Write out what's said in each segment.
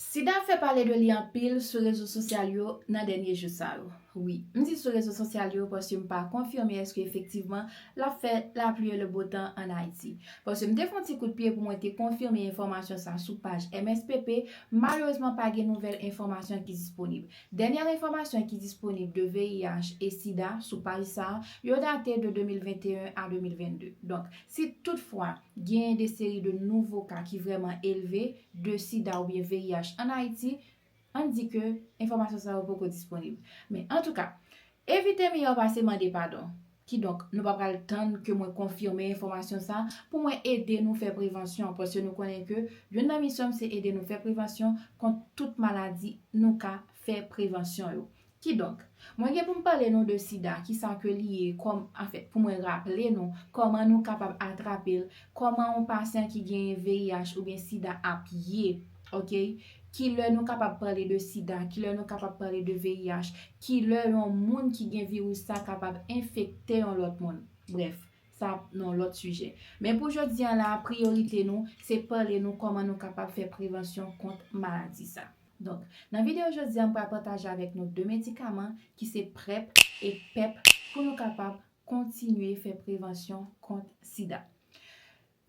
Sida fè pale de li anpil sou rezo sosyal yo nan dènye jou sa yo. Wi, m di sou rezo sosyal yo paske m pa konfime eske efektivman l ap fè lapli e lebotan an Ayiti. Paske m te fè yon ti kout pye pou mwen te konfime enfòmasyon sa sou paj MSPP, malerezman pa gen nouvèl enfòmasyon ki disponib. Dènyè enfòmasyon ki disponib de VIH e sida sou paj sa, yo date de 2021 a 2022. Donk, si tout fwa. Genyen de seri de nouvo ka ki vrèman elve de sida oubyen VIH an Ayiti, ann di ke enfòmasyon sa yo poko disponib. Men, antouka, evite miyò pase mande padon. Kidonk, nou pa pral tann ke mwen konfime enfòmasyon sa pou mwen ede nou fè prevansyon, paske nou konnen ke youn nan misyon m se ede nou fè prevansyon kont tout maladi nou ka fè prevansyon yo. Kidonk, mwen gen pou m pale nou de sida, kisa ke li ye, kòm, anfèt, pou mwen raple nou, kòman nou kapab atrape l, kòman yon pasyan ki genyen VIH oubyen sida ap ye, oke, ki lè nou kapab pale de sida, ki lè nou kapab pale de VIH, ki lè yon moun ki gen viris sa kapab enfekte yon lòt moun. Brèf, sa ap nan yon lòt sijè. Men pou jodi an la a, priyorite nou, se pale nou kòman nou kapab fè prevansyon kont maladi sa. Donk, nan videyo jodi a m pral pataje avèk nou 2 medikaman ki se prep e pep pou nou kapab kontinye fè prevansyon kont sida.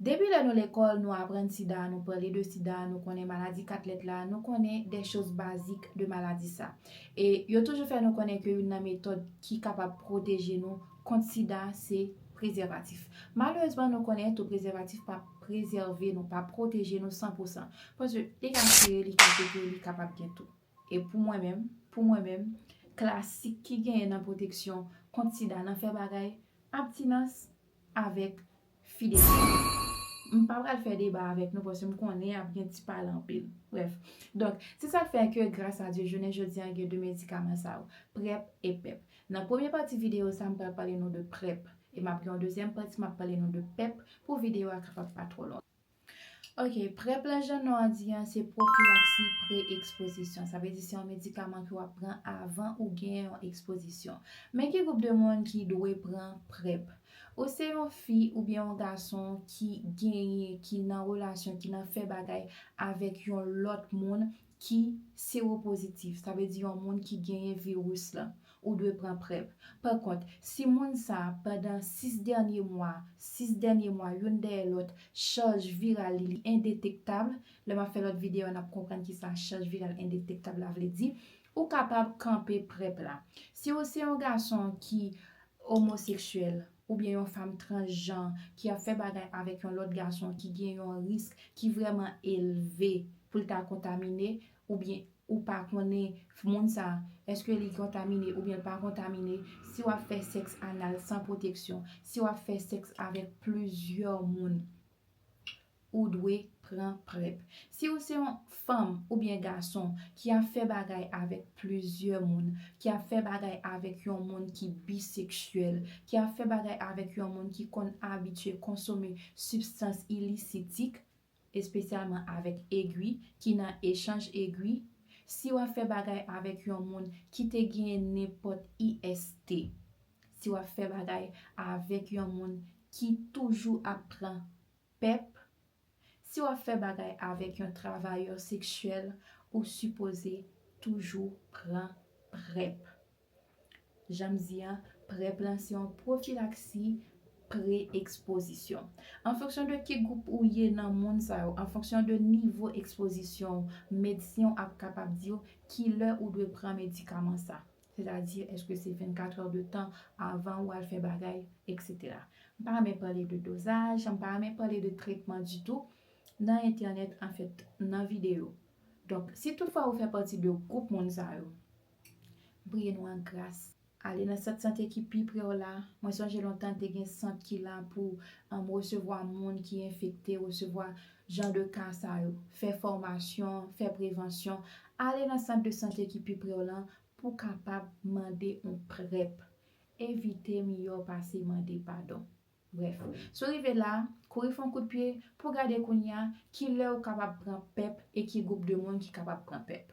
Depi lè nou lekòl nou aprann sida, nou pale de sida, nou konnen maladi 4 lèt la, nou konnen dè choz bazik de maladi sa. E yo toujou fè nou konnen ke youn nan metòd ki kapab pwoteje nou kont sida se prezèvatif. Malerezman nou konnen tou prezèvatif pa prezève nou, pa pwoteje nou san pou san. Paske li ka tire, li ka pete, li kapab gen tou. E pou mwen menm, pou mwen menm, klasik ki genyen nan pwoteksyon kont sida nan fè bagay, abtinans avèk. Fidète. M pa pral fè deba avèk nou paske m konnen ap gen ti pale anpil. Brèf. Donk, se sa k fè ke gras a Dye jounen jodi an gen 2 medikaman sa yo, Prep e Pep. Nan premye pati videyo sa m pral pale nou de Prep e m ap gen yon dezyèm pati m ap pale nou de Pep pou videyo a kapab pa twò lontan. Ok, prep la jan non an di an se pwofilaksi pre ekspozisyon. Sa vle di se yon medikaman ke w ap pran avan ou gen yon ekspozisyon. Men ki gwoup de moun ki dwe pran prep. Ou se yon fi oubyen yon gason ki genyen, ki nan relasyon, ki nan fè bagay avèk yon lòt moun ki sewopozitif, sa vle di yon moun ki genyen viris lan, ou dwe pran prep. Pa kont, si moun sa a, pandan 6 dènye mwa, 6 dènye mwa youn dèyè lòt, chaj viral li li endetektab, lè m ap fè lòt videyo n ap konprann ki sa chaj viral endetektab la vle di, ou kapab kanpe prep la. Si ou se yon gason ki omoseksyèl, oubyen yon fanm transjan ki ap fè bagay avèk yon lòt gason ki gen yon risk ki vrèman elve pou l ta kontamine oubyen ou pa konnen moun sa èske li kontamine oubyen l pa kontamine, si w ap fè sèks anal san pwoteksyon, si w ap fè sèks avèk plizyè moun. Ou dwe pran prep. Si ou se yon fanm oubyen gason ki ap fè bagay avèk plizyè moun, ki ap fè bagay avèk yon moun ki biseksyèl, ki ap fè bagay avèk yon moun ki konn abitye konsome sibstans ilisitik, espesyalman avèk egwi, ki nan echanj egwi, si w ap fè bagay avèk yon moun ki te genyen nenpòt IST, si w ap fè bagay avèk yon moun ki toujou ap pran Pep, si wap fè bagay avek yon travayè seksyèl ou sipoze toujou pran prep. Janm di an, prep lan se yon pwofilaksi pre ekspozisyon. An fonksyon de ki gwoup ou ye nan moun sa yo, an fonksyon de nivo ekspozisyon ou, medsen w ap kapab diw kilè ou dwe pran medikaman sa. Sètadi, èske se 24 è de tan avan ou al fè bagay, eksetera. M pa renmen pale de dozaj, m pa renmen pale de tretman ditou nan entènèt, anfèt, nan videyo. Donk, si tout fwa ou fè pati de gwoup moun sa yo, m priye nou an gras, ale nan sant sante ki pi pre w la, mwen sonje lontan te gen sant ki la pou resevwa moun ki enfekte, resevwa jan de ka sa yo, fè fòmasyon, fè prevansyon, ale nan sant de sante ki pi pre w lan pou kapab mande yon prèp. Evite miyò pase mande padon. Brèf, si w rive la, kouri fè yon kout pye pou w gade kounye a ki lè ou kapab pran pep e ki gwoup de moun ki kapab pran pep.